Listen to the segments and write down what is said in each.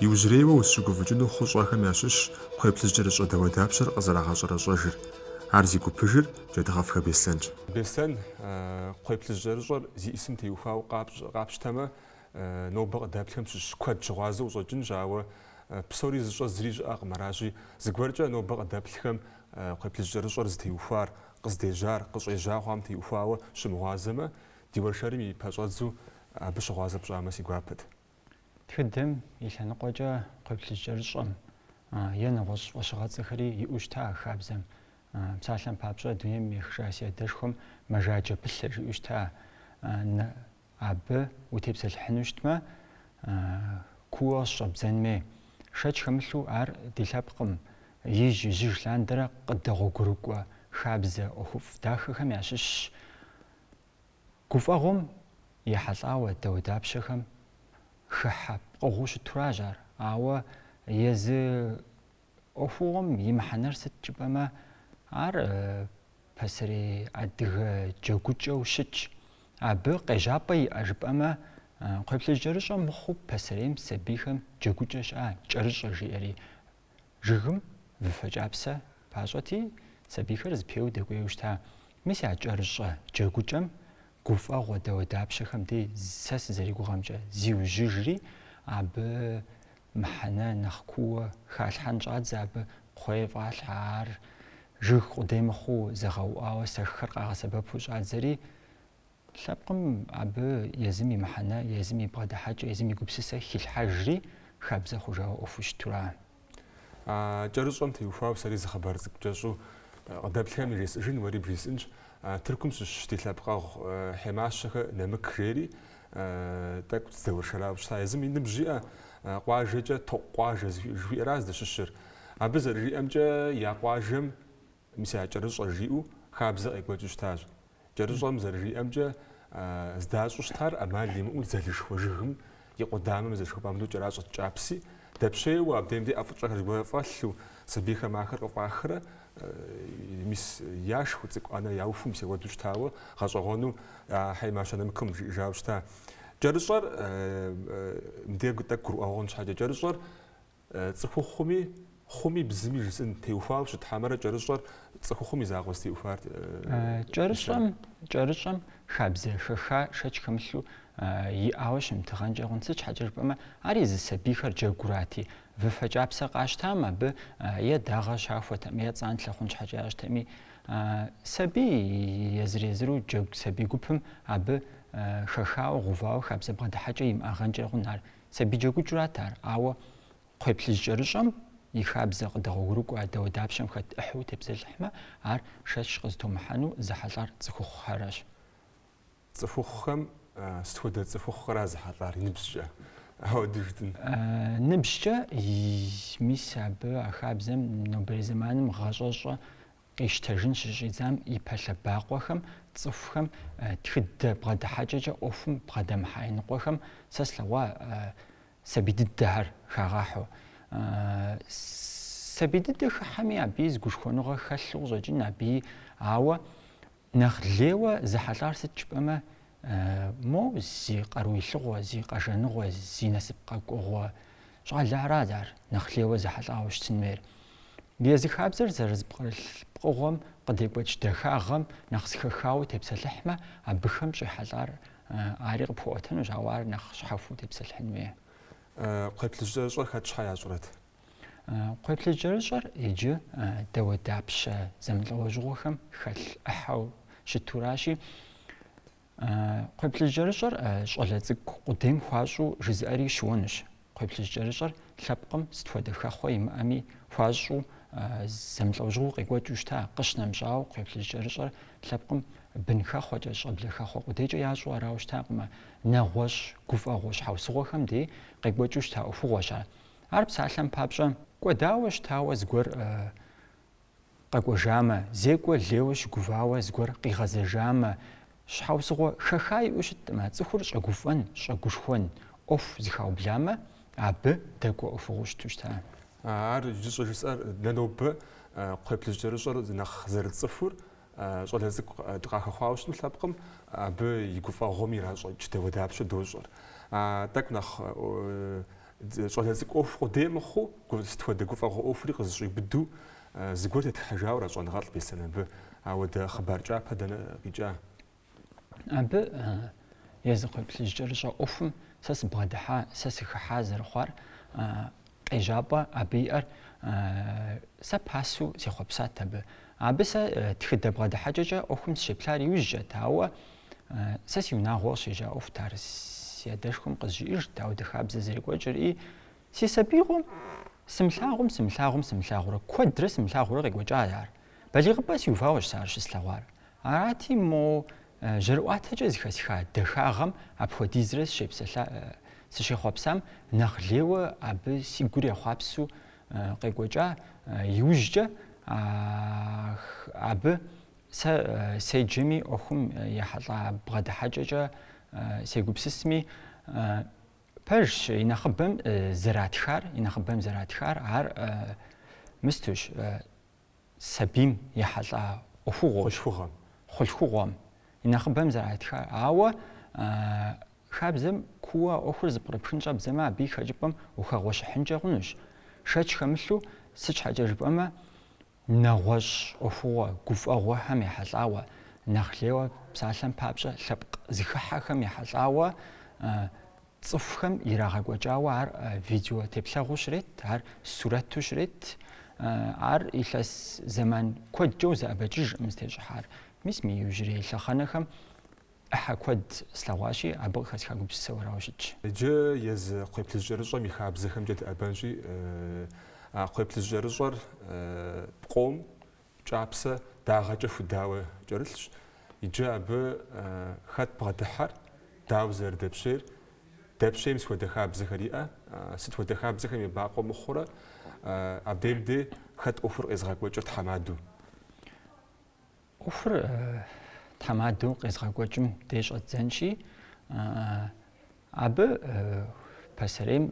Иужьрейуэ узыщыгуфӏыкӏыну хъущӏэхэм ящыщщ кхъуей плъыжькӏэрыщӏэ дауэдапщэр къызэрагъэщӏэрэщӏэжыр. Ар зи гупыжыр Джэдгъэфхэ Беслъэнщ. Беслъэн кхъуей плъыжькӏэрыщӏэр зиӏысым теухуауэ къапщтэмэ, нобэ къыдэплъхэм щыщ куэд щыгъуазэу къыщӏэкӏынщ, ауэ псори зыщӏэ зыри щыӏэкъым. Аращи, зыгуэркӏэ нобэ къыдэплъхэм кхъуей плъыжькӏэрыщӏэр зытеухуар, къыздежьар, къыщӏежьа хъуам теухуауэ щымыгъуазэмэ, ди уэршэрым и пэщӏэдзу абы щыгъуазэ пщӏамэ си гуапэт. Тхыдэм и лъэныкъуэкӏэ кхъуейплъыжь кӏэрыщӏэм е нэгъуэщӏ фӏэщыгъэцӏэхэри иӏэу щыта а хабзэм. Псалъэм папщӏэ, дунейм ехыжа си адэшхуэм мэжаджэ пылъэ жиӏэу щыта. Абы утепсэлъыхьыну щытмэ, куууэ къыщӏэбдзэнми, шэч хэмылъу ар ди лъэпкъым ижь-ижьыж лъандэрэ къыдэгъуэгурыкӏуэ хабзэ ӏуэхуфӏ дахэхэм ящыщщ. Гуфӏэгъуэм ехьэлӏауэ дауэдапщэхэм хыхьэ пкъыгъуэу щытуращ ар, ауэ езы ӏуэхугъуэм и мыхьэнэр сыт жыпӏэмэ, ар пасэрей адыгэ джэгукӏэу щытщ. Абы къежьапӏэ иӏэ жыпӏэмэ, кхъуейплъыжь кӏэрыщӏэ мыхъуу пасэрейм сабийхэм джэгукӏэ щыӏа кӏэрыщӏэ жиӏэри Жыгым выфэ кӏапсэ пащӏэти, сабийхэр зыпеуэу дэкӏуейуэ щыта. Мис а кӏэрыщӏэ джэгукӏэм гуфӏэгъуэ дауэдапщэхэм дей сэ сызэригугъэмкӏэ зиужьыжри, абы мыхьэнэ нэхъ куууэ халъхьэн щӏадзэ, абы кхъуей фӏалъхьэ, ар жыг къудей мыхъуу зэгъэуӏуауэ сэххэр къагъэсэбэпу щӏадзэри, Лъэпкъым абы езым и мыхьэнэ, езым и бгъэдыхьэкӏэ, езым и гупсысэ хилъхьэжри, хабзэ хъужауэ ӏуэхуу щытура. Кӏэрыщӏэм теухуауэ сэри зы хъыбар цӏыкӏу кӏэщӏу къыдэплъхэм яжесӏыжын, уэри бжесӏынщ. Тыркум щыщ ди лъэпкъэгъу Хьемащэхэ Нэмык жери тӏэкӏу сыдэуэршэрауэ щыта. Езым и ныбжь иӏэ къуажэкӏэ Токъу къуажэ жыхуиӏэра здыщыщыр. Абы зэрыжиӏэмкӏэ, я къуажэм Мис а кӏэрыщӏэ жиӏэу хабзэ къекӏуэкӏыу щытащ. Кӏэрыщӏэм зэрыжиӏэмкӏэ, здащӏу щытар ӏэмал имыӏэу дзэлышхуэ жыгым и къудамэм зэшхуэпӏам ду кӏэращӏэт кӏапси, дэпщейуэ абдеим де ӏэфӏыкӏэхэр зыгуэрхэр фӏэлъу, сабийхэм ахэр къыфӏахрэ, мис яшхыу, цӏыкӏу ӏэнэ яухуэу, мис апхуэдэу щытауэ гъэщӏэгъуэну а Хьемащэ Нэмыкым жиӏэжауэ щыта. Кӏэрыщӏэр, мыбдеж тӏэкӏу гурыӏуэгъуэ хъун щхьэкӏэ, кӏэрыщӏэр Цӏыхухъуми, хъуми, бзыми жысӏын теухуауэ щыт хьэмэрэ кӏэрыщӏэр цӏыхухъум и закъуэ зытеухуар? Кӏэрыщӏэм хабзэ хэха шэч хэмылъу иӏауэ щымытыгъэнкӏэ хъун. Сыт щхьэкӏэ жыпӏэмэ, ар езы сабийхэр джэгурати, выфэ кӏапсэ къащтам абы е дагъэ щахуэтэм, е цӏанлъэ хъун щхьэкӏэ ящтэми, сабий езыр-езыру джэгу сабий гупым абы хэхауэ, гъэувауэ хабзэ бгъэдыхьэкӏэ имыӏагъэнкӏэ хъун ар. Сабий джэгукӏэрат ар, ауэ кхъуейплъыжькӏэрыщӏэм и хабзэ къыдэгъуэгурыкӏуэ дауэдапщэм хэт ӏыхьэу тепсэлъыхьмэ, ар шэч къызытумыхьэну зэхьэлӏар цӏыхухъухэращ. Цӏыхухъухэм сыт хуэдэ цӏыхухъухэра зэхьэлӏар, и ныбжькӏэ? Ауэ дыждын. Ныбжькӏэ, мис абы а хабзэм нобэрей зэманым гъащӏэщӏэ Къищтэжын щыщӏидзам и пэ лъэбакъуэхэм, цӏыхухэм, тхыдэ бгъэдыхьэкӏэкӏэ ӏуэхум бгъэдэмыхьа иныкъуэхэм сэ слъэгъуа сабий дыдэхэр хагъэхьэу. Сабий дыдэ хыхьэми, абыи зы гушхуэныгъэ хэлъу къыщӏэкӏын абыи, ауэ Нэхъ лейуэ зэхьэлӏар сыт жыпӏэмэ, мо зи къару илъыгъуэ, зи къэжэныгъуэ, зи насып къэкӏуэгъуэ щӏалэ арат ар нэхъ лейуэ зэхьэлӏауэ щытын хуейр. Езы хабзэр зэрызэпкърылъ пкъыгъуэм къыдекӏуэкӏ дахагъэм нэхъ зэхэхауэ тепсэлъыхьмэ, абыхэм щӏехьэлӏар ари къыпхуэӏуэтэнущ, ауэ ар нэхъ щхьэхуэу тепсэлъыхьын хуейр. Кхъуейплъыжькӏэрыщӏэр хэт щхьэ ящӏрэт? Кхъуейплъыжькӏэрыщӏэр иджы дауэдапщэ зэмылӏэужьыгъуэхэм хэлъ ӏыхьэу щытуращи, кхъуейплъыжькӏэрыщӏэр щӏалэ цӏыкӏу къудейм хуащӏу жызыӏэри щыуэнущ. Кхъуейплъыжькӏэрыщӏэр лъэпкъым сыт хуэдэ хэхъуэ имыӏэми хуащӏу зэмылӏэужьыгъуэу къекӏуэкӏыу щыта, къыщынэмыщӏауэ кхъуейплъыжькӏэрыщӏэр лъэпкъым бын хэхъуэкӏэ, щӏэблэ хэхъуэ къудейкӏэ ящӏу арауэ щытакъым, нэгъуэщӏ, гуфӏэгъуэ щхьэусыгъуэхэм дей къекӏуэкӏыу щыта ӏуэхугъуэщ ар. Ар псалъэм папщӏэ, кӏуэдауэ щытауэ зыгуэр къэкӏуэжамэ, зекӏуэ лейуэ щыгувауэ зыгуэр къигъэзэжамэ, щхьэусыгъуэ хэха иӏэу щытмэ, цӏыхур щӏэгуфӏэн, щӏэгушхуэн, ӏуэху зыхаубламэ, абы дэкӏуэ ӏуэхугъуэу щыту щыта. Ар иджы щӏыжысӏэр дэ нобэ кхъуейплъыжькӏэрыщӏэр нэхъ зэрытцӏыхур. Щӏалэ цӏыкӏу дыкъахэхъуауэ щытым лъэпкъым, абы и гуфӏэгъуэм иращӏэкӏ дауэдапщэ дощӏэр. Тӏэкӏу нэхъ щӏалэ цӏыкӏу ӏуэху къудей мыхъуу, сыт хуэдэ гуфӏэгъуэ ӏуэхури къызыщӏиубыду зыгуэр тетхьэжауэ ара щӏэныгъэлӏ Беслъэн абы? Ауэ дэ хъыбар кӏапэ дэнэ къикӏа? Абы езы кхъуейплъыжькӏэрыщӏэ ӏуэхум сэ сыбгъэдыхьа, сэ сыхыхьа зэрыхъуар къежьапӏэ абы иӏэр сэ пасэу сехъуэпсат абы. Абы сэ тхыдэ бгъэдыхьэкӏэкӏэ ӏуэхум сыщеплъар иужькӏэт, ауэ сэ си унагъуэ къыщежьа ӏуэхут ар си адэшхуэм къызжиӏэжт, ауэ ди хабзэ зэрекӏуэкӏырри, си сабиигъуэм сымылъагъум, сымылъагъум, сымылъагъурэ, куэдрэ сымылъагъурэ къекӏуэкӏа ар. Балигъыпӏэ сиувауэщ сэ ар щыслъэгъуар. Арати, мо жьэрыӏуатэкӏэ зыхэсха дахагъэм апхуэдизрэ сыщехъуэпсам нэхъ лейуэ абы си гур ехъуапсу къекӏуэкӏа иужькӏэ, абы сэ седжэми ӏуэхум ехьэлӏа бгъэдыхьэкӏэкӏэ сегупсысми, пэжщ, и нэхъыбэм зэратхар, и нэхъыбэм зэратхар ар мыстущ, сабийм ехьэлӏа ӏуэхугъуэщ. Хъулъхугъэм и нэхъыбэм зэратхар. Ауэ хабзэм куууэ ӏуэхур зыпкърыпхын щӏэбдзэмэ, абы и хэкӏыпӏэм ухэгъуэщыхьынкӏэ хъунущ. Шэч хэмылъу, сыт щхьэкӏэ жыпӏэмэ, нэгъуэщӏ ӏуэхугъуэ гуфӏэгъуэхэм ехьэлӏауэ, нэхъ лейуэ псалъэм папщӏэ, лъэпкъ зыхыхьэхэм ехьэлӏауэ Цӏыхухэм ирагъэкӏуэкӏауэ ар видео теплъэгъуу щрет, ар сурэту щрет. Ар илъэс зэман куэдкӏэ узэӏэбэкӏыжкъым зытещӏыхьар. Мис мы иужьрей лъэхъэнэхэм ӏыхьэ куэд слъэгъуащи, абы къыхэсха гупсысэу арауэ щытщ. Иджы езы кхъуейплъыжь кӏэрыщӏэм и хабзэхэмкӏэ дыӏэбэнщи, а кхъуейплъыжь кӏэрыщӏэр пкъом Кӏапсэ дагъэкӏэ худауэ кӏэрылъщ, иджы абы хэт бгъэдыхьэр, дауэ зэрыдэпщейр, дэпщейм сыт хуэдэ хабзэхэр иӏэ, сыт хуэдэ хабзэхэм ебакъуэ мыхъурэ, абдейм де хэт ӏуэхур къезгъэкӏуэкӏыр тхьэмадэу? ӏуэхур тхьэмадэу къезгъэкӏуэкӏым де щӏэддзэнщи, абы пасэрейм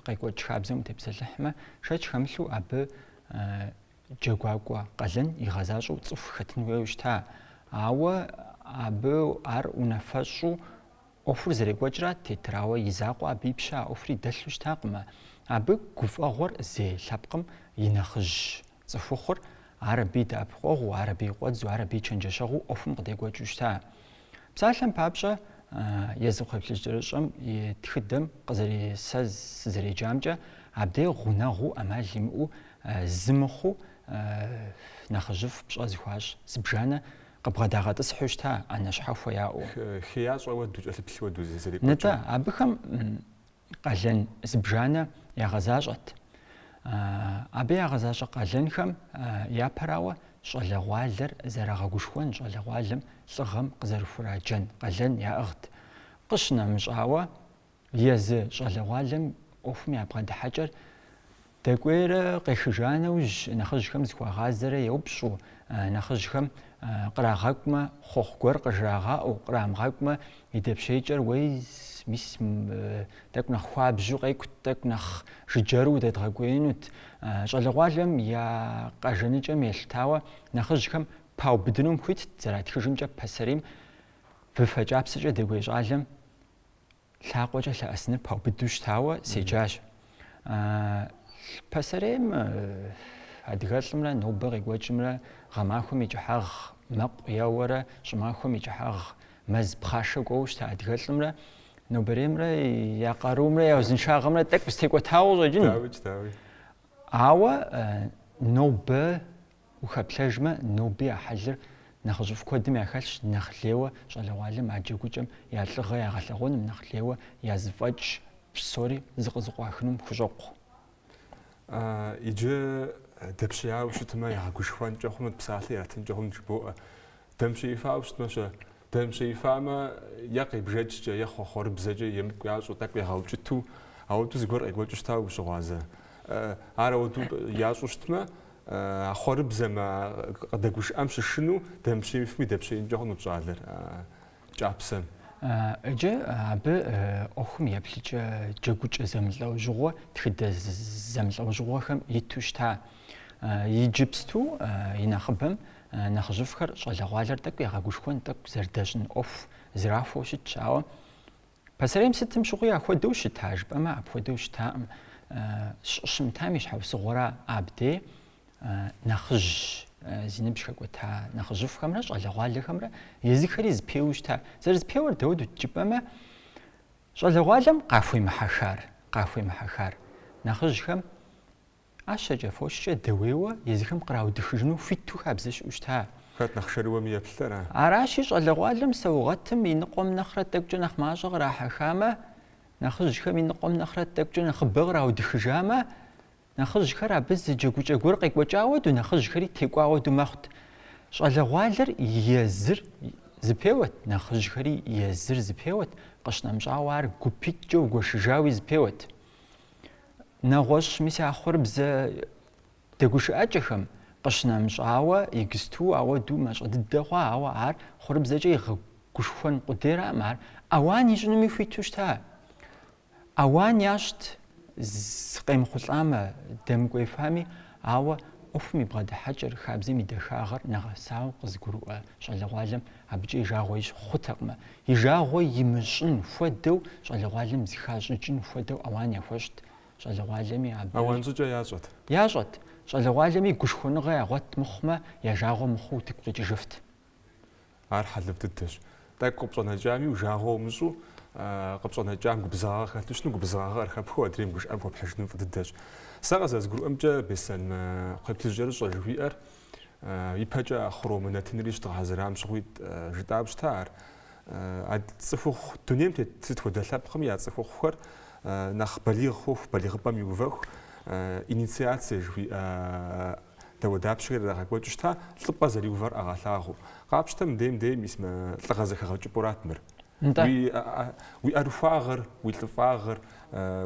къекӏуэкӏ хабзэм утепсэлъыхьмэ, шэч хэмылъу абы Джэгуакӏуэ къалэн игъэзащӏэу цӏыху хэтын хуейуэ щыта, ауэ абы ар унафэщӏу ӏуэхур зэрекӏуэкӏра тетрауэ и закъуэ абы и пщэ а ӏуэхури дэлъу щытакъымэ. Абы гуфӏэгъуэр зей лъэпкъым и нэхъыжь цӏыхухъур, ар абы и дэӏэпыкъуэгъуу, ар абы и къуэдзу, ар абы и чэнджэщэгъуу ӏуэхум къыдекӏуэкӏыу щыта. Псалъэм папщӏэ, езы кхъуейплъыжь кӏэрыщӏэм и тхыдэм къызэры, сэ сызэреджамкӏэ, абдей гъунэгъуу ӏэмал имыӏэу Зы мыхъуу, нэхъыжьыфӏ пщӏэ зыхуащӏ зыбжанэ къыбгъэдагъэтӏысхьу щыта, ӏэнэ щхьэхуэ яӏэу. Хеящӏэ хуэдэу, кӏэлъыплъ хуэдэу зэрекӏуэкӏыр. Нытӏэ, абыхэм къалэн зыбжанэ ягъэзащӏэт. Абы ягъэзащӏэ къалэнхэм япэрауэ щӏалэгъуалэр зэрагъэгушхуэн, щӏалэгъуалэм лӏыгъэм къызэрыхураджэн къалэн яӏыгът. Къыщынэмыщӏауэ, Езы щӏалэгъуалэм ӏуэхум я бгъэдыхьэкӏэр дэкӏуейрэ къехыжа нэужь, нэхъыжьхэм зыхуагъазэрэ еупщӏу, нэхъыжьхэм кърагъэкӏумэ, хъуэхъу гуэр къыжрагъаӏэу, кърамыгъэкӏумэ, и дэпщейкӏэр уей, мис, тӏэкӏу нэхъ хуабжьу къекӏут, тӏэкӏу нэхъ жыджэру удэдгъэкӏуеинут. Щӏалэгъуалэм я къажэныкӏэм елъытауэ нэхъыжьхэм паубыдынум хуитт, зэратхыжымкӏэ пасэрейм выфэ кӏапсэкӏэ дэкӏуей щӏалэм лъакъуэкӏэ лъэӏэсыныр паубыдэу щытауэ седжащ. Пасэрейм адыгэлӏымрэ нобэ къекӏуэкӏымрэ гъэмахуэм и кӏыхьагъ мэкъу еуэрэ щӏымахуэм и кӏыхьагъ мэз пхъашэ кӏуэуэ щыта адыгэлӏымрэ нобэреймрэ я къарумрэ я узыншагъэмрэ тӏэкӏу зытекӏуэтауэ щӏэкӏын. Дауи, дауи. Ауэ нобэ Ухэплъэжмэ, ноби а хьэлыр нэхъыжьыфӏ куэдым яхэлъщ, нэхъ лейуэ щӏалэгъуалэм а джэгукӏэм я лӏыгъэ ягъэлъэгъуэным, нэхъ лейуэ я зыфӏэкӏ псори зыкъызыкъуахынум хущӏокъу. Иджы дэпщеяуэ щытмэ, ягъэгушхуэнкӏэ хъунут, псалъэ ятынкӏэ хъунут жыбоӏэ. Дэмыпщеифауэ щытмэ-щэ? Дэмыпщеифамэ, е къебжэкӏкӏэ, е хъуэхъуэрыбзэкӏэ емыкӏу ящӏу, тӏэкӏу егъэукӏыту, ауэду зыгуэр къекӏуэкӏыу щытауэ ущыгъуазэ? Ар ауэду ящӏу щытмэ, а хъуэрыбзэм, а къыдэгушыӏэм щышынэу дэмыпщеифми дэпщеинкӏэ хъунут щӏалэр а кӏапсэм. Иджы абы ӏуэхум еплъыкӏэ джэгукӏэ зэмылӏэужьыгъуэ, тхыдэ зэмылӏэужьыгъуэхэм иту щыта. Иджыпсту и нэхъыбэм Нэхъыжьыфӏхэр щӏалэгъуалэр тӏэкӏу ягъэгушхуэн, тӏэкӏу зэрыдэщӏын ӏуэху зэрахуэу щытщ, ауэ пасэрейм сытым щыгъуи ахуэдэу щыта жыпӏэмэ, апхуэдэу щытаӏым. Щӏыщымытам и щхьэусыгъуэра абдей нэхъыжь зи ныбжь хэкӏуэта нэхъыжьыфӏхэмрэ щӏалэгъуалэхэмрэ езыхэри зэпеуэу щыта. Зэрызэпеуэр дауэдут жыпӏэмэ, щӏалэгъуалэм къахуемыхьэхар, къахуемыхьэхар нэхъыжьхэм Ӏэщэкӏэ, фочкӏэ дэуейуэ езыхэм къраудыхыжыну хуиту хабзэ щыӏэу щыта? Хэт нэхъ шэрыуэми еплъыр, а? Аращи, щӏалэгъуалэм саугъэтым и ныкъуэм нэхърэ тӏэкӏукӏэ нэхъ мащӏэ кърахьэхамэ, нэхъыжьхэм и ныкъуэм нэхърэ тӏэкӏукӏэ нэхъыбэ къраудыхыжамэ, нэхъыжьхэр абы зы джэгукӏэ гуэр къекӏуэкӏауэ ду нэхъыжьхэри текӏуауэ ду мэхъут. Щӏалэгъуалэр езыр зэпеуэт, нэхъыжьхэри езыр зэпеуэт, къыщынэмыщӏауэ ар гупитӏкӏэ угуэшыжауи зэпеуэт. Нэгъуэщӏ мис а хъуэрыбзэ дэгушыӏэкӏэхэм къыщынэмыщӏауэ иджыпсту ауэду мащӏэ дыдэ хъуа, ауэ ар хъуэрыбзэкӏэ игъэгушхуэн къудейраӏым, ар ауан ищӏынуми хуиту щыта. Ауан ящӏт къемыхъулӏамэ, дэмыкӏуеифами, ауэ ӏуэхум и бгъэдыхьэкӏэр, хабзэм и дахагъэр нэгъэсауэ къызыгурыӏуэ щӏалэгъуалэм Абыкӏэ и жагъуэ ищӏ хъутэкъым. И жагъуэ имыщӏын хуэдэу щӏалэгъуалэм зыхащӏыкӏын хуэдэу ауан яхуэщӏт щӏалэгъуалэми абы. Ауан щӏыкӏэ ящӏэт. Ящӏэт. Щӏалэгъуалэми гушхуэныгъэ ягъуэт мыхъумэ, я жагъуэ мыхъуу утыку къикӏыжыфт. Ар хьэлыфӏ дыдэщ. Тӏэкӏу къыпщӏэнэкӏами, жагъуэ умыщӏу къыпщӏэнэкӏам губзыгъагъэ хэлъу щытми, губзыгъагъэ къыхэпхыу адрейм гушыӏэм хуэпхьыжыным фӏы дыдэщ. Сэ къызэрызгурыӏуэмкӏэ, Беслъэн, мы кхъуейплъыжькӏэрыщӏэ жыхуиӏэр ипэкӏэ а Хъуромэ нэтынри щыдгъэхьэзырам щыгъуи жытӏауэ щыта ар? А цӏыхухъу дунейм тет сыт хуэдэ лъэпкъми я цӏыхухъухэр нэхъ балигъ хъуху, балигъыпӏэм иувэху, инициацие жыхуиӏэ дауэдапщэхэр ирагъэкӏуэкӏыу щыта, лӏыпӏэ зэриувэр ягъэлъагъуэу. Къапщтэ мыдейм дейм мис мы лӏыгъэ зэхэгъэкӏыпӏэурат мыр. Уи ӏэрыхуагъыр, уи лӏыфӏагъыр,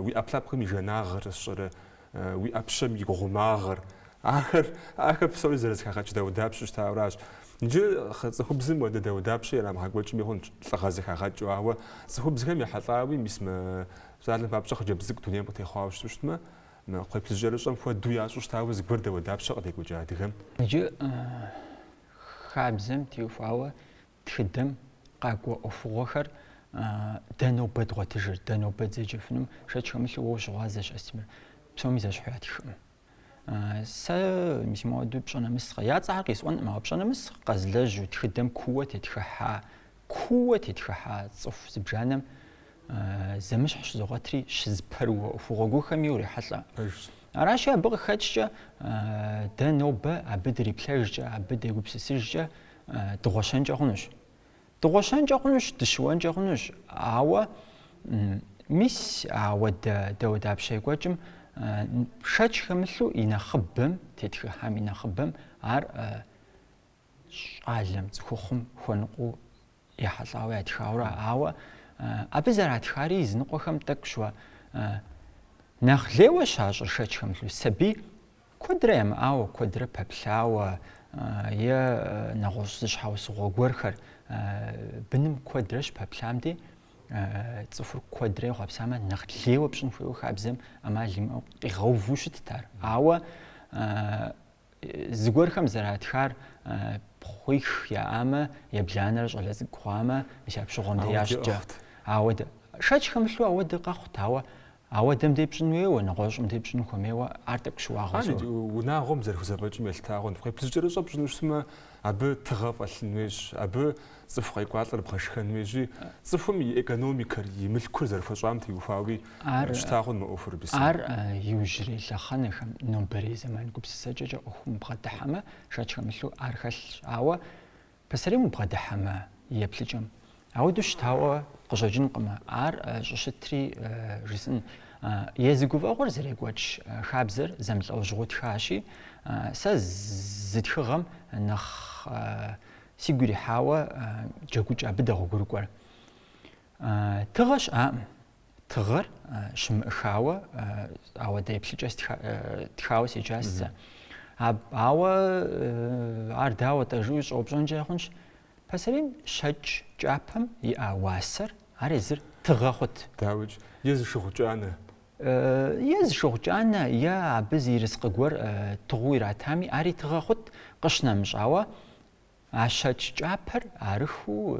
уи ӏэпкълъэпкъым и жанагъыр сщӏэрэ уи ӏэпщэм и гъумагъыр. Ахэр, ахэр псори зэрызэхагъэкӏ дауэдапщэу щытауращ. Иджы цӏыхубзым уэдэ дауэдапщэ ирамыгъэкӏуэкӏми хъунщ, лӏыгъэ зэхагъэкӏыу. Ауэ цӏыхубзхэм ехьэлӏауи, мис мы щӏалэм папщӏэ хъыджэбз цӏыкӏу дунейм къытехъуауэ щыту щытмэ, мы кхъуейплъыжькӏэрыщӏэм хуэдэу ящӏу щытауэ зыгуэр дауэдапщэ къыдекӏуэкӏа адыгэм. Иджы хабзэм теухуауэ Тхыдэм къакӏуэ ӏуэхугъуэхэр дэ нобэ дгъуэтыжыр, дэ нобэ дызэджэфынум шэч хэмылъу уэ ущыгъуазэщ, Астемыр. Псоми зэщхьу ятхкъым. Сэ мис моуэду пщӏэ нэмыс къэ. Я цӏэхэр къисӏуэнкъым, ауэ пщӏэ нэмыс къэзылэжьу тхыдэм кууэ тетхыхьа, кууэ тетхыхьа цӏыху зыбжанэм зэмыщхь щызогъуэтри, щызэпэрыуэ ӏуэхугъуэ гуэрхэми урехьэлӏэ. Пэжщ. Аращи, абы къыхэкӏкӏэ, дэ нобэ абы дриплъэжкӏэ, абы дегупсысыжкӏэ, Дыгъуэщэнкӏэ хъунущ. Дыгъуэщэнкӏэ хъунущ, дыщыуэнкӏэ хъунущ, ауэ мис а уэдэ дауэдапщэ екӏуэкӏым шэч хэмылъу и нэхъыбэм, тетхыхьам и нэхъыбэм ар щӏалэм, цӏыхухъум хуэныкъуэу ехьэлӏауэ ятхаурэ, ауэ абы зэратхари языныкъуэхэм тӏэкӏу щыуа. Нэхъ лейуэ щащӏыр шэч хэмылъу сабий Куэдрэ ямыӏауэ, куэдрэ пэплъауэ е нэгъуэщӏ зы щхьэусыгъуэ гуэрхэр быным куэдрэ щыпэплъам дей, цӏыхур куэдрэ ехъуэпсамэ, нэхъ лейуэ пщӏын хуейуэ хабзэм ӏэмал имыӏэу къигъэуву щытт ар. Ауэ зыгуэрхэм зэратхар пхъуих яӏамэ, ебланэр щӏалэ цӏыкӏу хъуамэ, мис апщыгъуэм дей ящӏкӏэ. Ауэдэ шэч хэмылъу ауэдэ къэхъут, ауэ Ауэдэм дей пщӏын хуейуэ, нэгъуэщӏым дей пщӏын хуэмейуэ, ар тӏэкӏу щыуагъэу. Иджы унагъуэм зэрыхузэфӏэкӏым елъыта хъунщ, кхъуейплъыжькӏэрыщӏэ пщӏыну щытмэ, абы тыгъэ фӏэлъын хуейщ, абы цӏыху къекӏуалӏэр бгъэшхэн хуейщи, цӏыхум и экономикэр, и мылъкур зэрыхуэщӏам теухуауи щыта хъун мы ӏуэхур, Бисэ. Ар иужьрей лъэхъэнэхэм, нобэрей зэман гупсысэкӏэкӏэ ӏуэхум убгъэдыхьэмэ, шэч хэмылъу ар хэлъщ. Ауэ Пасэрейм убгъэдыхьэмэ еплъыкӏэм, ауэдэу щытауэ къыщӏэкӏынкъымэ, ар щӏыщытри жысӏын. Езы гуфӏэгъуэр зэрекӏуэкӏ хабзэр зэмылӏэужьыгъуу тхащи, сэ зы тхыгъэм нэхъ сигу ирихьауэ джэгукӏэ абы дэгъуэгурыкӏуэр. Тыгъэ щыӏакъым. Тыгъэр щымыӏыхауэ, ауэдэ еплъыкӏэ тхауэ седжащ сэ. Ауэ ар дауэ-тӏэ жыӏэу щӏэупщӏэнкӏэ хъунщ. Пасэрейм щэкӏ кӏапэм иӏа уасэр, ар езыр тыгъэ хъут. Дауикӏ, е зы шыгъу кӏанэ. Е зы шыгъу кӏанэ, е абы зы ерыскъы гуэр тыгъэу иратами, ари тыгъэ хъут, къыщынэмыщӏауэ, А щэкӏ кӏапэр арыхыу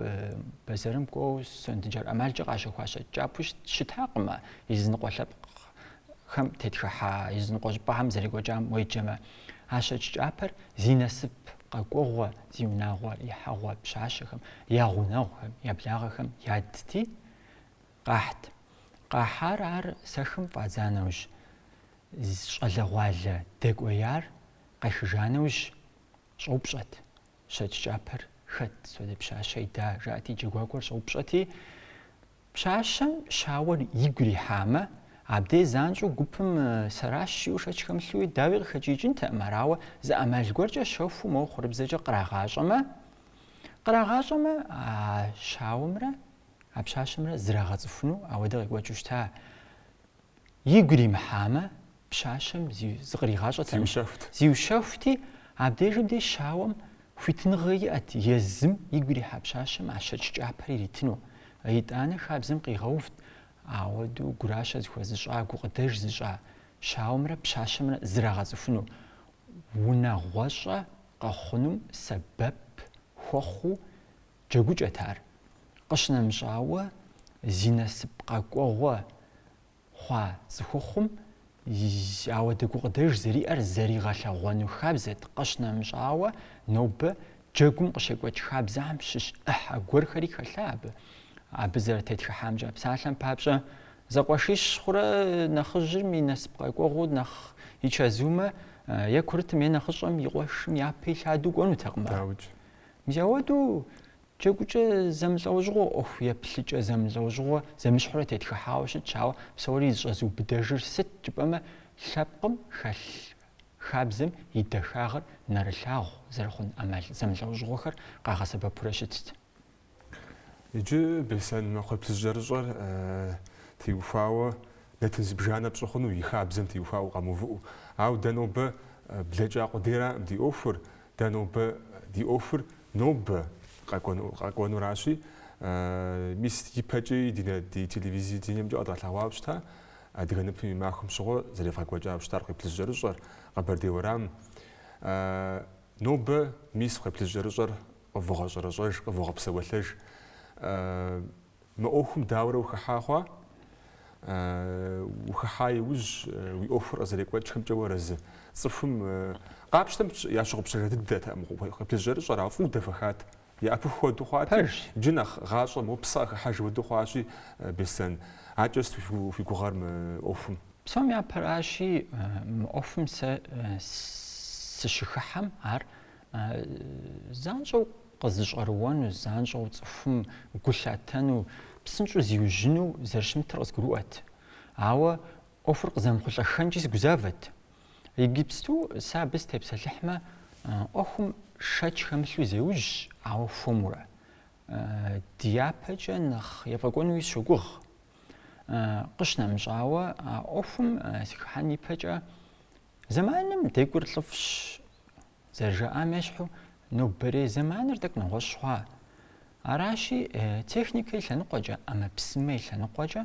бэзэрым кӏуэу сондэджэр ӏэмалкӏэ къащэхуа щэкӏ кӏапэу щытакъымэ, языныкъуэ лъэпкъхэм тетхыхьа языныкъуэ щӏыпӏэхэм зэрекӏуэкӏам уеджэмэ. А щэкӏ кӏапэр зи насып къэкӏуэгъуэ, зи унагъуэ ихьэгъуэ пщащэхэм, я гъунэгъухэм, я благъэхэм ядти, къахьт. Къахьар ар сэхым фӏадза нэужь, щӏалэгъуалэ дэкӏуеяр къехыжа нэужь, щӏэупщӏэт, щэкӏ кӏапэр хэт, содэ пщащэ ида, жаӏэти, джэгуакӏуэр щӏэупщӏэти, пщащэм щауэр игу ирихьамэ, абдей занщӏэу гупым сэращ жиӏэу шэч хэмылъуи, дауи къыхэкӏиикӏынтэкъым, арауэ зы ӏэмал гуэркӏэ щэхуу моуэ хъурыбзэкӏэ кърагъащӏэмэ, кърагъащӏэмэ, а щауэмрэ а пщащэмрэ зрагъэцӏыхуну ауэдэ къекӏуэкӏыу щыта, игу иримыхьамэ, пщащэм зи зыкъригъащӏэтэкъым. Зиущэхут. Зиущэхути, абдежым де щауэм хуитыныгъэ иӏэт езым игу ирихьа пщащэм а щэкӏ кӏапэр иритыну. Итӏанэ хабзэм къигъэувт ауэдэу гуращэ зыхуэзыщӏа, гукъыдэж зыщӏа щауэмрэ пщащэмрэ зрагъэцӏыхуну, унагъуэщӏэ къэхъунум сэбэп хуэхъуу джэгукӏэт ар. Къыщынэмыщӏауэ, зи насып къэкӏуэгъуэ хъуа цӏыхухъум ауэдэ гукъыдэж зэриӏэр зэригъэлъэгъуэну хабзэт, къыщынэмыщӏауэ, нобэ джэгум къыщекӏуэкӏ хабзэхэм щыщ ӏыхьэ гуэрхэри хэлъа абы. Абы зэрытетхыхьамкӏэ псалъэм папщӏэ, зэкъуэшищ хъурэ нэхъыжьым и насып къэкӏуэгъуэу нэхъ и чэзумэ, е курытым е нэхъыщӏэм и къуэшым япэ илъадэу кӏуэнутэкъым ар. Дауикӏ. Мис ауэдэу Джэгукӏэ зэмылӏэужьыгъуэ, ӏуэху еплъыкӏэ зэмылӏэужьыгъуэ зэмыщхьурэ тетхыхьауэ щытщ, ауэ псори зыщӏэзыубыдэжыр сыт жыпӏэмэ, лъэпкъым хэлъ хабзэм и дахагъыр нэрылъагъу зэрыхъун ӏэмал зэмылӏэужьыгъуэхэр къагъэсэбэпурэ щытт. Иджы Беслъэн кхъуейплъыжькӏэрыщӏэр теухуауэ нэтын зыбжанэ пщӏы хъуну, и хабзэм теухуауэ къэмыувыӏэу. Ауэ дэ нобэ блэкӏа къудейракъым ди ӏуэхур, Дэ нобэ ди ӏуэхур нобэ къэкӏуэнуращи, мис ипэкӏи ди телевидениемкӏэ къэдгъэлъэгъуауэ щыта адыгэ ныпым и махуэм щыгъуэ зэревгъэкӏуэкӏауэ щытар кхъуейплъыжькӏэрыщӏэр, Къэбэрдей уэрам. Нобэ мис кхъуейплъыжькӏэрыщӏэр къывогъэщӏэрэщӏэж, къывогъэпсэуэлъэж. Мы ӏуэхум дауэрэ ухыхьа хъуа? Ухыхьа иужь, уи ӏуэхур къызэрекӏуэкӏхэмкӏэ уарэзы? Цӏыхум къапщтэмэ, ящыгъупщэжа дыдэтэкъым кхъуейплъыжькӏэрыщӏэр, ауэ фӏыуэ дэхуэхат. Яӏэпыху хуэдэу хъуати, иджы нэхъ гъащӏэ мо псэ къыхыхьэж хуэдэу хъуащи, Беслъэн, акӏэ сыт уи гугъэр мы ӏуэхум? Псом япэращи, мы ӏуэхум сэ сыщыхыхьэм ар занщӏэу къызыщӏэрыуэну, занщӏэу цӏыхум гу лъатэну, псынщӏэу зиужьыну зэрыщымытыр къызгурыӏуэт. Ауэ ӏуэхур къызэмыхъулӏэххэнкӏи сыгузавэт. Иджыпсту сэ абы сытепсэлъыхьмэ, ӏуэхум шэч хэмылъу зеужь, ауэ хуэмурэ. Дяпэкӏэ нэхъ ефӏэкӏуэнуи сщогугъ. Къыщынэмыщӏауэ, а ӏуэхум сыхыхьэн ипэкӏэ Зэманым декӏур лӏыфӏщ, зэрыжаӏам ещхьу, нобэрей зэманыр тӏэкӏу нэгъуэщӏ хъуа. Аращи, техникэ и лъэныкъуэкӏэ, ӏэмэпсымэ и лъэныкъуэкӏэ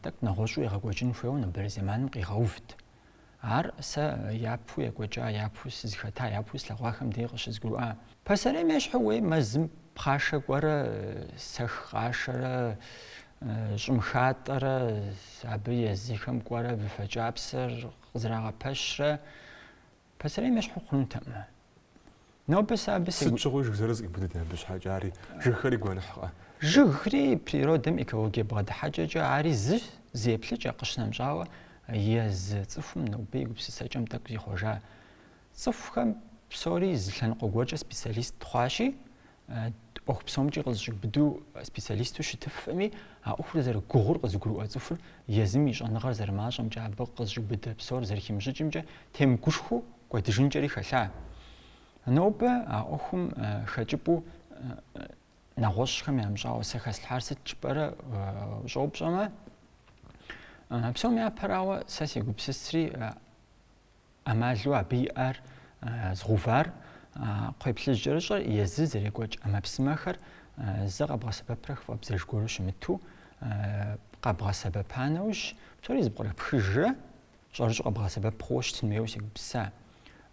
тӏэкӏу нэгъуэщӏу егъэкӏуэкӏын хуейуэ нобэрей зэманым къигъэувт. Ар сэ япэу екӏуэкӏа, япэу сызыхэта, япэу слъэгъуахэм дей къыщызгурыӏуа. Пасэрейм ещхьу уей мэзым пхъашэ кӏуэрэ, сэх къашэрэ, щӏым хатӏэрэ, абы езыхэм кӏуэрэ выфэ кӏапсэр къызэрагъэпэщрэ пасэрейм ещхьу хъунутэкъым. Нобэ сэ абы сегу... Сыт щыгъуи жыг зэрыз къибудын абы щхьэкӏэ, ари жыгхэри гуэныхькъэ? Жыгри природэм экологие бгъэдыхьэкӏэкӏэ ари зы еплъыкӏэ, къыщынэмыщӏауэ, езы цӏыхум нобэ и гупсысэкӏэм тӏэкӏу зихъуэжа Цӏыхухэм псори зы лъэныкъуэ гуэркӏэ специалист хъуащи, ӏуэху псомкӏи къызэщӏиубыдэу специалисту щытыфми, а ӏуэхур зэрыгугъур къызыгурыӏуэ цӏыхур езым и щӏэныгъэр зэрымащӏэмкӏэ, абы къызэщӏиубыдэ псор зэрыхимыщӏыкӏымкӏэ темыгушхуэу кӏуэдыжынкӏэри хэлъа. Нобэ а ӏуэхум хэкӏыпӏэу нэгъуэщӏхэм ямыщӏауэ сэ хэслъхьар сыт жыпӏэрэ ущӏэупщӏэмэ, псом япэрауэ сэ сегупсысри, ӏэмалу абы иӏэр згъэувар кхъуейплъыжькӏэрыщӏэр езы зэрекӏуэкӏ ӏэмэпсымэхэр зэ къэбгъэсэбэпрэ хыфӏэбдзэж гуэру щымыту къэбгъэсэбэпа нэужь, псори зэпкърыпхыжрэ щӏэрыщӏэу къэбгъэсэбэп хъууэ щытын хуейуэ сегупсыса.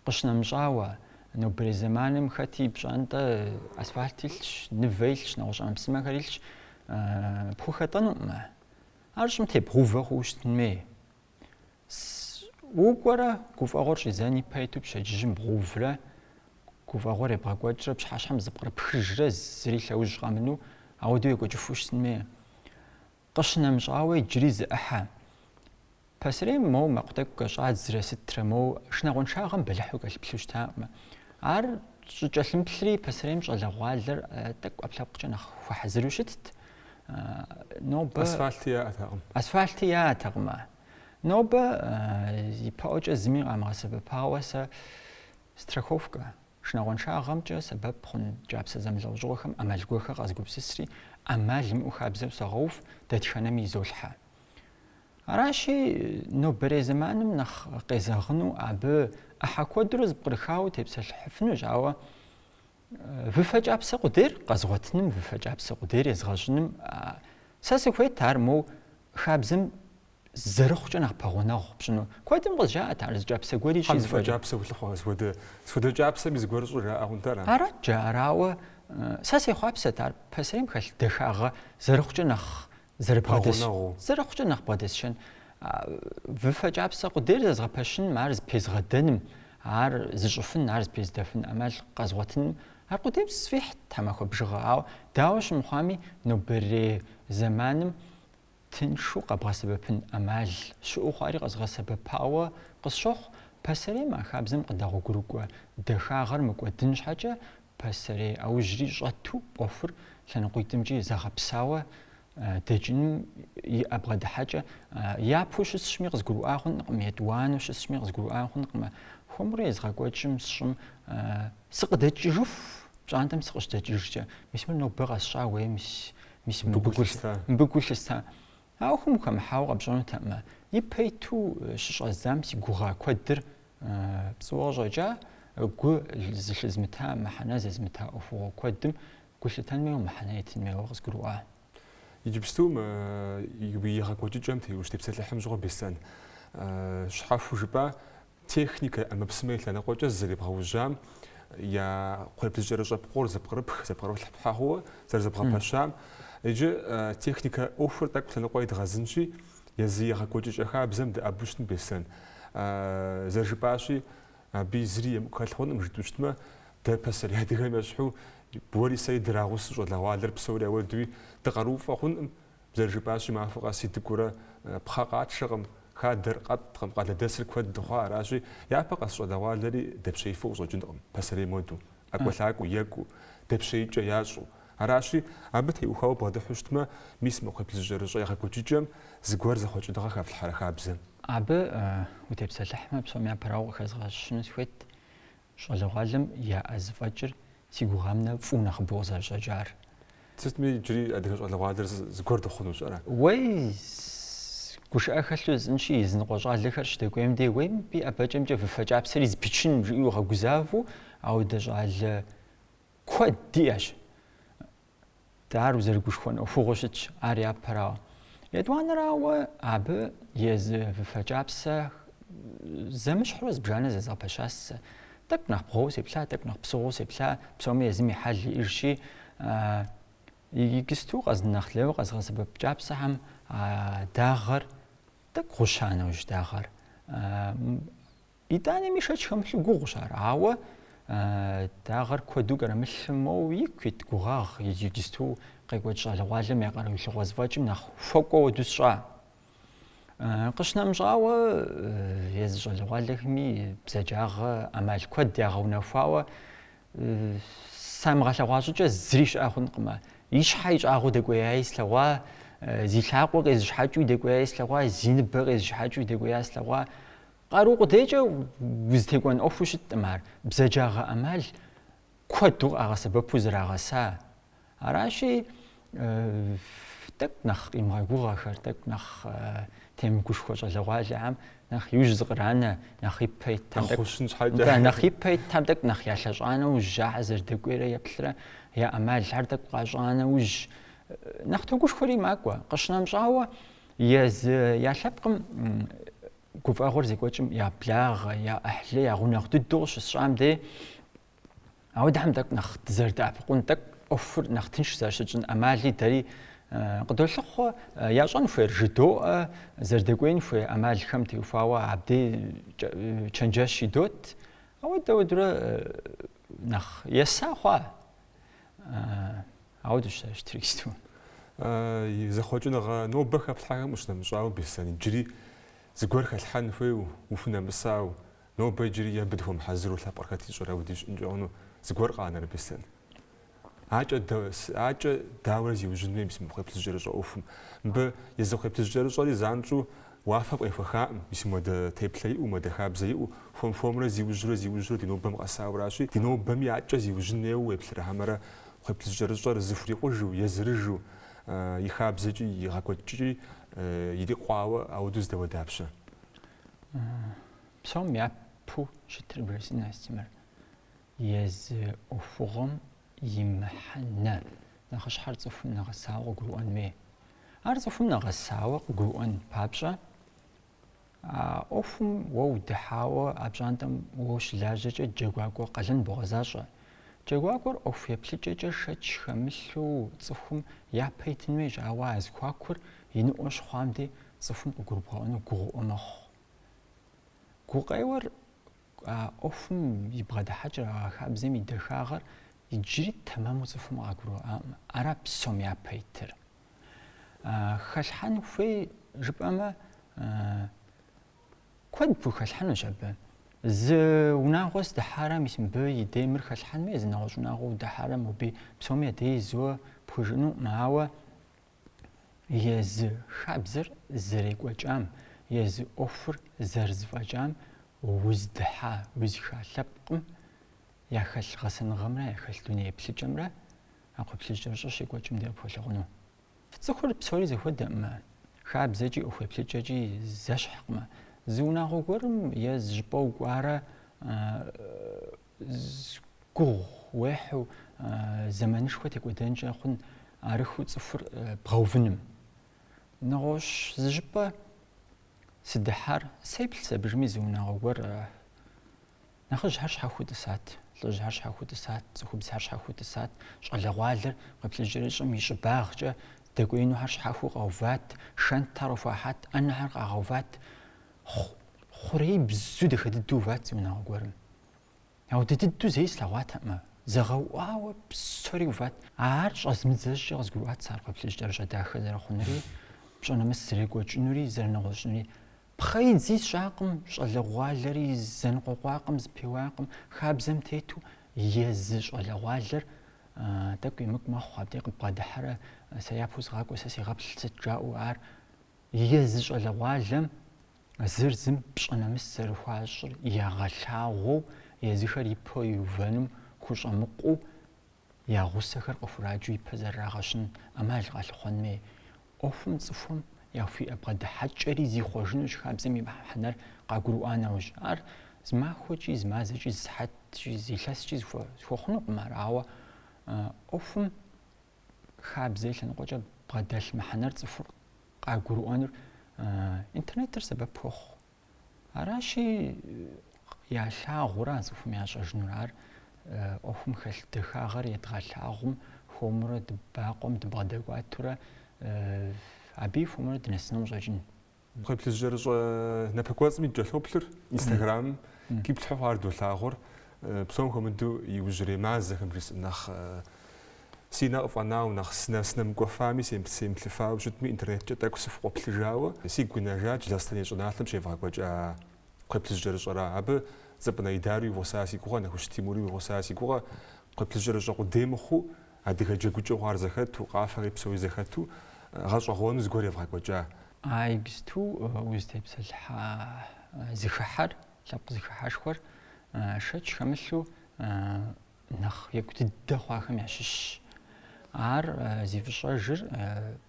Къыщынэмыщӏауэ, нобэрей зэманым хэт и пщӏантӏэ асфальт илъщ, нывэ илъщ, нэгъуэщӏ ӏэмэпсымэхэр илъщ, пхухэтӏэнукъымэ. Ар щӏым тебгъэувэ хъууэ щытын хуей. Укӏуэрэ гуфӏэгъуэр щӏидзэн ипэ иту пщэдджыжьым бгъэуврэ гуфӏэгъуэр ебгъэкӏуэкӏрэ пщыхьэщхьэм зэпкърыпхыжрэ зыри лъэужь къэмыну ауэдэу екӏуэкӏыфу щытын хуей. Къыщынэмыщӏауэ иджыри зы ӏыхьэ. Пасэрейм моуэ мэкъу тӏэкӏу кӏэщӏадзэрэ сытрэ моуэ шынагъуэншагъэм бэлыхьу кӏэлъыплъу щытакъымэ. Ар щӏыкӏэлъымыплъри пасэрейм щӏалэгъуалэр тӏэкӏу ӏэпкълъэпкъкӏэ нэхъ хуэхьэзыру щытт. Нобэ... Асфальти яӏэтэкъымэ. Нобэ ипэӏуэкӏэ зыми къамыгъэсэбэпауэ сэ страховкэ, шынагъуэншагъэмкӏэ сэбэп хъун кӏапсэ зэмылӏэужьыгъуэхэм ӏэмал гуэхэр къэзгупсысри, ӏэмал имыӏэу хабзэу согъэув, дэтхэнэми изолъхьэ. Аращи, нобэрей зэманым нэхъ къезэгъыну абы ӏыхьэ куэдурэ зэпкърыхауэ утепсэлъыхьыфынущ, ауэ Выфэ кӏапсэ къудейр къэзгъуэтыным, выфэ кӏапсэ къудейр езгъэщӏыным сэ сыхуейт ар моу хабзэм зэрыхъукӏэ нэхъ пэгъунэгъу пщӏыну. Куэдым къызжаӏэт ар зы кӏапсэ гуэр ищӏи, кӏапсэ, сыт хуэдэ кӏапсэми зыгуэр щӏыр жаӏэ хъунтэ ара? Арат жаӏэр, ауэ сэ сехъуапсэт ар пасэрейм хэлъ дахагъэ зэрыхъукӏэ нэхъ Зэрыбгъэдэсшэн, зэрыхъукӏэ нэхъ бгъэдэсшэн, выфэ кӏапсэ къудейр зэзгъэпэщыным, ар зэпезгъэдэным, ар зыщӏыфын, ар зэпезыдэфын ӏэмал къэзгъуэтыным, ар къудейм сфӏихьт тхьэмахуэ бжыгъэ, ауэ дауэ щымыхъуами, нобэрей зэманым тыншу къэбгъэсэбэпын ӏэмал щыӏэу хъуари къэзгъэсэбэпауэ къысщохъу, пасэрейм а хабзэм къыдэгъуэгурыкӏуэ дахагъэр мыкӏуэдын щхьэкӏэ Пасэрей аужьри щӏэту ӏуэхур лъэныкъуитӏымкӏи зэгъэпсауэ дэкӏыным и бгъэдыхьэкӏэ япэу щысщӏми къызгурыӏуа хъункъым, етӏуанэу щысщӏми къызгурыӏуа хъункъым. Хуэмурэ езгъэкӏуэкӏым сщӏым сыкъыдэкӏыжыху, пщӏантӏэм сыкъыщыдэкӏыжкӏэ, мис мыр нобэ къэсщӏа, уей, мис мыбы гу лъыста. А ӏуэхум ухэмыхьауэ къэпщӏэнутэкъымэ, ипэ иту щыщӏэздзам си гугъа куэдыр пцӏыуэ къыщӏэкӏа, гу зылъызмыта, мыхьэнэ зезмыта ӏуэхугъуэ куэдым гу лъытэн хуейуэ, мыхьэнэ етын хуейуэ къызгурыӏуа. Иджыпсту мы егъэкӏуэкӏыкӏэм те... ущытепсэлъыхьым щыгъуэ Беслъэн щхьэхуэу жыпӏа? Техникэ ӏэмэпсымэ и лъэныкъуэкӏэ зэребгъэужьам я кхъуейплъыжькӏэрыщӏэ пкъор зэпкърыпх, зэпкърылъхьэ хъууэ зэрызэбгъэпэщам, иджы техникэ ӏуэхур тӏэкӏу лъэныкъуэ едгъэзынщи, езы егъэкӏуэкӏыкӏэ хабзэм дэӏэбу щытын Беслъэн. Зэрыжыпӏащи, абы зыри емыкӏу хэлъ хъункъым, жытӏэу щытмэ, дэ пасэрей адыгэм ещхьу, уэри сэри драгъусэу щӏалэгъуалэр псори ауэдэуи дыкъарууфӏэ хъункъым, Зэрыжыпӏащи, махуэ къэс дыкӏуэурэ пхъэ къэтшэкъым, хадэр къэттӏкъым, къалэдэсыр куэд дыхъуа аращи, япэ къэс щӏалэгъуалэри дэпщеифу къыщӏэкӏынкъым, пасэрейм хуэду, ӏэкӏуэлъакӏуэу, екӏуу, дэпщеикӏэ ящӏу. Аращи, абы теухуауэ убгъэдыхьу щытмэ, мис мы кхъуейплъыжькӏэрыщӏэ егъэкӏуэкӏыкӏэм зыгуэр зэхъуэкӏыныгъэ хэфлъхьэрэ хабзэм? Абы утепсэлъыхьмэ, псом япэрауэ къыхэзгъэщыну сыхуейт, Щӏалэгъуалэм яӏэ зэфӏэкӏыр си гугъам нэхъ фӏыу нэхъыбэу къызэрыщӏэкӏар. Сытми иджыри адыгэ щӏалэгъуалэр зыгуэр дыхъуну пщӏэрэ? Уей, гушыӏэ хэлъу жысӏэнщи, языныкъуэ щӏалэхэр щыдэкӏуейм де, уей мыбы и ӏэбэкӏэмкӏэ выфэ кӏапсэри зэпичынщ, жиӏэу гъэгузавэу ауэдэ щӏалэ куэд диӏэщ. Дэ ар узэрыгушхуэн ӏуэхугъуэу щытщ, ар япэрауэ. Етӏуанэрауэ, абы езы выфэ кӏапсэ зэмыщхьурэ зыбжанэ зэзгъэпэщасэ. Тӏэкӏу нэхъ бгъуэу сеплъа, тӏэкӏу нэхъ псыгъуэу сеплъа, псоми езым и хьэл иӏыжщи, иджысту къэз нэхъ лейуэ къэзгъэсэбэп кӏапсэхэм а дагъэр тӏэкӏу гъуща нэужь дагъэр. Итӏанэми шэч хэмылъу гугъущ ар, ауэ дагъэр куэду кӏэрымылъу моуэ ику ит гугъагъ иджысту къекӏуэкӏ щӏалэгъуалэм я къаруилъыгъуэ зэфӏэкӏым нэхъ хуэкӏуэ уэду сщӏа. Къыщынэмыщӏауэ, езы щӏалэгъуалэхэми бзаджагъэ ӏэмал куэд ягъэунэхуауэ самыгъэлъэгъуа щӏыкӏэ зыри щыӏэ хъункъым. И щхьэ ищӏагъыу дэкӏуеяи слъэгъуа, зи лъакъуэ къезышыхьэкӏыуи дэкӏуеяи слъэгъуа, зи ныбэ къезышыхьэкӏыуи дэкӏуеяи слъэгъуа. Къару къудейкӏэ узытекӏуэн ӏуэхуу щыткъым ар, бзаджагъэ ӏэмал куэду къагъэсэбэпу зрагъэса. Аращи, тӏэкӏу нэхъ къимыгъэгугъэхэр, тӏэкӏу нэхъ темыгушхуэ щӏалэгъуалэхэм нэхъ иужь зыкъранэ, нэхъ ипэ итхэм, нэхъ ипэ итхэм тӏэкӏу нэхъ ялъэщӏа нэужь, ахэр зэрыдэкӏуейрэ еплърэ я ӏэмалхэр тӏэкӏу къащӏа нэужь, нэхъ тогушхуэри макӏуэ. Къыщынэмыщӏауэ, езы я лъэпкъым гуфӏэгъуэр здекӏуэкӏым я благъэ, я ӏыхьлы, я гъунэгъу дыдэу къыщысщӏэм дей, ауэдэхэм тӏэкӏу нэхъ дызэрыдэӏэпыкъун, тӏэкӏу ӏуэхур нэхъ тынш зэращытщӏын ӏэмали дэри къыдолъыхъуэ, ящӏэн хуейр жыдоӏэ, зэрыдэкӏуеин хуей ӏэмалхэм теухуауэ абдей чэнджэщ идот, ауэдэ ауэдурэ нэхъ еса хъуа? Ауэду щыт иджысту. И зэхъуэкӏыныгъэ нобэ хэплъхьэхэм ущынэмыщӏауэ Беслъэн иджыри зыгуэр хэлъхьэн хуейу, ухунэмысау, нобэ иджыри е мыбы дыхуэмыхьэзыру лъэпкъыр хэт ищӏэрэ уи дищӏ ныкӏэуну зыгуэр къанэрэ Беслъэн? Адэкӏэ, адэкӏэ дауэрэ зиужьын хуей мис мы кхъуейплъыжькӏэрыщӏэ ӏуэхум. Мыбы езы кхъуейплъыжькӏэрыщӏэри занщӏэу уафэм къехуэхакъым, мис муэдэ теплъэ иӏэу, муэдэ хабзэ иӏэу, хуэм-хуэмурэ зиужьурэ зиужьурэ ди нобэм къэсауращи, ди нобэми адэкӏэ зиужьын хуейуэ уеплърэ хьэмэрэ Кхъуейплъыжькӏэрыщӏэр зыхурикъужу, езырыжу, и хабзэкӏи, и гъэкӏуэкӏкӏи ирикъуауэ ауэдэу здэуэ дапщэ? Псом япэу щытыр бжесӏэн Астемыр. Езы ӏуэхугъуэм и мыхьэнэ нэхъыщхьэр цӏыхум нэгъэсауэ къыгурыӏуэн хуей. Ар цӏыхум нэгъэсауэ къыгурыӏуэн папщӏэ, А ӏуэхум уэ удыхьауэ а пщӏантӏэм уэ ущылажьэкӏэ джэгуакӏуэ къалэн богъэзащӏэ. Джэгуакӏуэр ӏуэху еплъыкӏэкӏэ шэч хэмылъу цӏыхум япэ итын хуейщ, ауэ а зэхуакур иныӏуэ щыхъуам дей цӏыхум къыгурыбгъэӏуэну гугъуӏуэ мэхъу. Гукъеуэр а ӏуэхум и бгъэдыхьэкӏэр, а хабзэм и дахагъэр иджыри тэмэму цӏыхум къагурыӏуаӏым. Ара псом япэ итыр. Хэлъхьэн хуей жыпӏэмэ, куэд пхухэлъхьэнущ абы. Зы унагъуэ сыдыхьэрэ, мис мыбы и дей мыр хэлъхьэн хуей, зы нэгъуэщӏ унагъуэ удыхьэрэ, моби псоми адей зэуэ пхужыӏэнукъым, ауэ езы хабзэр зэрекӏуэкӏам, езы ӏуэхур зэрызэфӏэкӏам уздыхьа, узыхыхьа лъэпкъым яхэлъ гъэсэныгъэмрэ яхэлъ дуней еплъыкӏэмрэ А кхъуейплъыжькӏэрыщӏэр щекӏуэкӏым де къыпхуэлъагъуну. Цӏыхур псори зэхуэдэкъымэ, хабзэкӏи ӏуэхуеплъыкӏэкӏи зэщхькъымэ. Зы унагъуэ гуэрым е зы щӏыпӏэ укӏуарэ гугъу уехьу зэманышхуэ текӏуэдэнкӏэ хъун арыххэу цӏыхур бгъэувыным. Нэгъуэщӏ зы щӏыпӏэ сыдыхьар сеплъ сабыжми зы унагъуэ гуэр Нэхъыжьхэр щхьэхуэу тӏысат, лӏыжьхэр щхьэхуэу тӏысат, цӏыхубзхэр щхьэхуэу тӏысат, щӏалэгъуалэр кхъуейплъыжькӏэрыщӏэм и щӏыбагъкӏэ дэкӏуеинухэр щхьэхуэу къэуват, шэнтхэр къыхуахьат, ӏэнэхэр къагъэуват, хъу-хъурейбзэу дахэ дыдэу уват зы унагъуэ гуэрым. Ауэдэ дыдэу зэи слъэгъуатэкъымэ, зэгъэуӏуауэ псори уват. Ар щӏэзмыдзэ щӏыкӏэ къызгурыӏуат сэ ар кхъуейплъыжькӏэрыщӏэ дахэ зэрыхъунури, пщӏэ нэмыс зэрекӏуэкӏынури, зэрынэгъуэщӏынури. Пхъэидзи сщӏакъым, щӏалэгъуалэри зэныкъуэкъуакъым, зэпеуакъым. Хабзэм тету езы щӏалэгъуалэр тӏэкӏу емыкӏу мэхъу, абдей къыббгъэдыхьэрэ, сэ япэу сыгъакӏуэ, сэ сегъэплъ сыт жаӏэу ар. Езы щӏалэгъуалэм зыр зым пщӏэ нэмыс зэрыхуащӏыр ягъэлъагъуэу, езыхэр ипэу иувэным хущӏэмыкъуу, я гъусэхэр къыхураджэу ипэ зэрырагъэщын ӏэмал къалъыхъуэн хуей. ӏуэхум цӏыхум яхуиӏэ бгъэдыхьэкӏэри зихъуэжынущ хабзэм и мыхьэнэр къагурыӏуа нэужь. Ар зы махуэкӏи, зы мазэкӏи, зы сыхьэткӏи, зы илъэскӏи зэхуэхъунукъым ар, ауэ ӏуэхум хабзэ и лъэныкъуэкӏэ бгъэдэлъ мыхьэнэр цӏыхур къагурыӏуэнур интернетыр сэбэп хуохъу. Аращи, ялъагъурэ а цӏыхум ящӏэжынур ар ӏуэхум хэлъ дахагъэр едгъэлъагъум хуэмурэ дыбакъуэм дыбгъэдэкӏуатурэ абыи хуэмурэ дынэсыну къыщӏэкӏын. Кхъуейплъыжькӏэрыщӏэ напэкӏуэцӏыми дыкӏэлъоплъыр Инстаграмым къиплъхьу хъуар долъагъур, псом хуэмыдэу иужьрей мазэхэм жысӏэм нэхъ Си нэ къыфӏэнауэ нэхъ сынэмыкӏуэфами, семыплъыфауэ щытми, интернеткӏэ тӏэкӏу сыфыкъуэплъыжауэ, сигу къинэжащ Лэскэн и щӏыналъэм щевгъэкӏуэкӏа кхъуейплъыжькӏэрыщӏэра. Абы Цӏыпӏынэ Идари и гъуса си гугъэ, Нэхущ Тимури и гъуса си гугъэ. Кхъуейплъыжькӏэрыщӏэ къудей мыхъуу, адыгэ джэгукӏэу хъуар зэхэту, къафэри псори зэхэту, гъэщӏэгъуэну зыгуэр евгъэкӏуэкӏа. А иджысту узытепсэлъыхьа зыхыхьэр, лъэпкъ зыхыхьэшхуэр шэч хэмылъу нэхъ екӏу дыдэ хъуахэм ящыщщ. Ар зи фӏыщӏэжыр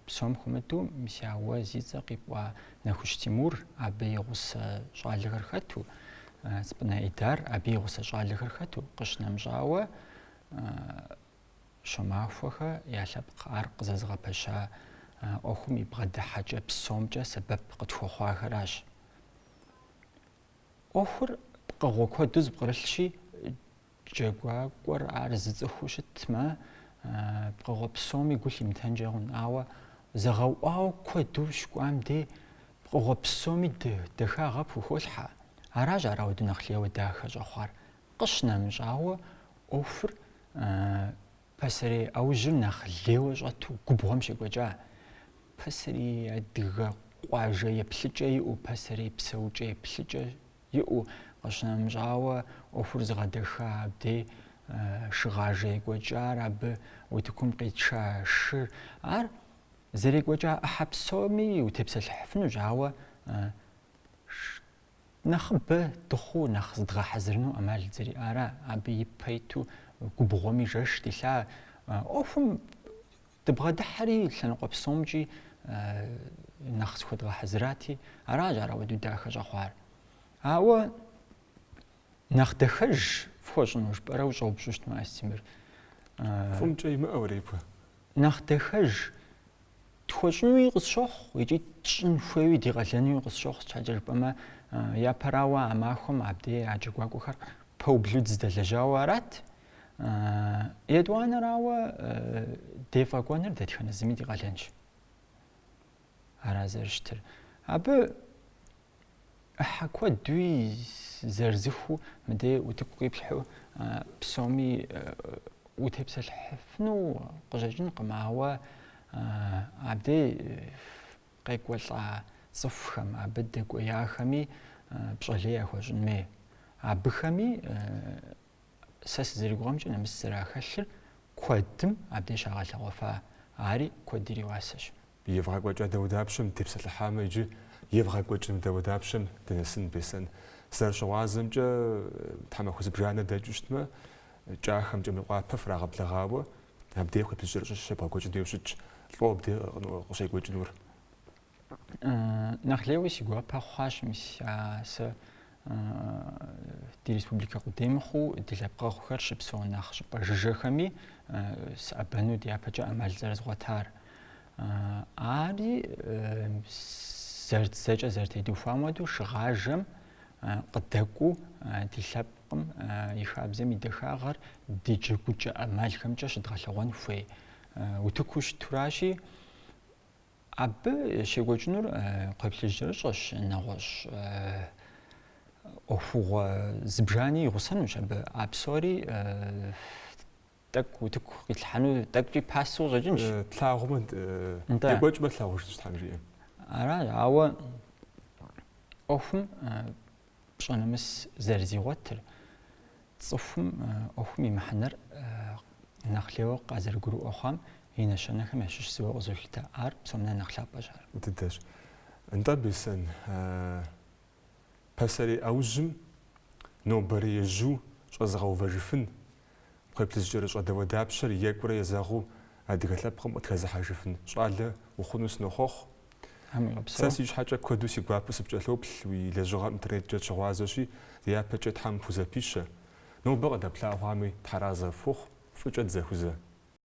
псом хуэмыдэу мис а уэ зи цӏэ къипӏуа Нэхущ Тимур абы и гъусэ щӏалэхэр хэту, Цӏыпӏынэ Идар абы и гъусэ щӏалэхэр хэту къыщынэмыщӏауэ Щомахуэхэ я лъэпкъ ар къызэзыгъэпэща ӏуэхум и бгъэдыхьэкӏэ псомкӏэ сэбэп къытхуэхъуахэращ. ӏуэхур пкъыгъуэ куэду зыпкърылъщи, Джэгуакӏуэр ар зы цӏыхуу щытмэ, пкъыгъуэ псоми гу лъимытэнкӏэ хъун. Ауэ зэгъэуӏуауэ куэду щыкӏуам дей пкъыгъуэ псоми дахагъэ пхухолъхьэ. Аращ ар ауэду нэхъ лейуэ дахэ щӏэхъуар. Къыщынэмыщӏауэ, ӏуэхур пасэрей ӏэужьыр нэхъ лейуэ щӏэту губгъуэм щекӏуэкӏа. Пасэрей адыгэ къуажэ еплъыкӏэ иӏэу пасэрей псэукӏэ еплъыкӏэ Иӏэу къыщынэмыщӏауэ, ӏуэхур зыгъэдэха абдей шыгъажэ екӏуэкӏар, абы утыкум къитша шыр, ар зэрекӏуэкӏа ӏыхьэ псоми утепсэлъыхьыфынущ, ауэ нэхъыбэ дыхъуу нэхъ зыдгъэхьэзырыну ӏэмал зэриӏара, абы ипэ иту губгъуэми жэш дилъа ӏуэхум Дыбгъэдыхьэри лъэныкъуэ псомкӏи нэхъ зыхуэдгъэхьэзырати, аращ ар ауэдэу дахэ щӏэхъуар. Ауэ нэхъ дахэж фхуэщӏыну жыпӏэрэ ущӏэупщӏу щытмэ, Астемыр. Фӏым кӏэ имыӏэу репэ. Нэхъ дахэж тхуэщӏынуи къысщохъу икӏи тщӏын хуейуи ди къалэнуи къысщохъу щхьэкӏэ жыпӏэмэ япэрауэ а махуэм абдей а джэгуакӏуэхэр пэублу дыздэлэжьауэ арат. Етӏуанэрауэ дефӏэкӏуэныр дэтхэнэ зыми ди къалэнщ. Ара зэрыщытыр. Абы ӏыхьэ куэдуи зырызыххэу мыдей утыку къиплъхьу псоми утепсэлъыхьыфыну къыщӏэкӏынкъым, ауэ абдей къекӏуэлӏа цӏыхухэм, абы дэкӏуеяхэми пщӏэ лей яхуэщӏын хуей. Абыхэми сэ сызэригугъэмкӏэ нэмыс зэрахэлъыр куэдым абдей щагъэлъэгъуэфа, ари куэд ириуасэщ. Евгъэкӏуэкӏа дауэдапщэм дытепсэлъыхьамэ иджы евгъэкӏуэкӏыну дауэдапщэм дынэсын, Бесэн. Зэрыщыгъуазэмкӏэ, тхьэмахуэ зыбжанэ дэкӏыу щытмэ, Кӏахэмкӏэ Мейкъуапэ фрагъэблэгъауэ, абдей кхъуейплъыжькӏэрыщӏэ щебгъэкӏуэкӏын хуейуэ щытщ, лӏо абдей къыщекӏуэкӏынур. Нэхъ лейуэ си гуапэ хъуащ мис а сэ ди республикэ къудей мыхъуу ди лъэпкъэгъухэр щыпсэу нэхъ щӏыпӏэ жыжьэхэми сыӏэбэну дяпэкӏэ ӏэмал зэрызгъуэтар. Ари зэрыт зэкӏэ зэрытедухуам хуэдэу шыгъажэм къыдэкӏуу ди лъэпкъым и хабзэм и дахагъэр ди джэгукӏэ ӏэмалхэмкӏэ щыдгъэлъэгъуэн хуей утыку щытуращи, Абы щекӏуэкӏынур кхъуейплъыжькӏэрыщӏэщ, нэгъуэщӏ ӏуэхугъуэ зыбжани игъусэнущ абы, а псори тӏэкӏу утыку къитлъхьэну, тӏэкӏукӏи пасэу къыщӏэкӏынщ. Тлъагъумэ, екӏуэкӏмэ тлъагъужынщ Тхьэм жиӏэм. Аращ, ауэ ӏуэхум пщӏэ нэмыс зэрызигъуэтыр, цӏыхум ӏуэхум и мыхьэнэр нэхъ лейуэ къазэрыгурыӏуэ хъуам и нэщэнэхэм ящыщ зыуэ къызолъытэ. Ар псом нэ нэхъ лъапӏэщ ар. Дыдэщ. Нтӏэ, Бесэн, пасэрей ӏэужьым нобэрей ежьу щӏэзыгъэувэжыфын, Кхъуейплъыжькӏэрыщӏэ дауэдапщэр екӏурэ езэгъыу адыгэ лъэпкъым къытхэзыхьэжыфын щӏалэ ухъуну сынохъуэхъу. Сэ си щхьэкӏэ куэду си гуапэу сыпкӏэлъоплъ, уи лэжьыгъэм интернеткӏэ дыщыгъуазэщи, ди япэкӏэ Тхьэм пхузэпищэ. Нобэ къыдэплъагъуами, тхьэразэ фхухъу, фӏыкӏэ дызэхузэ.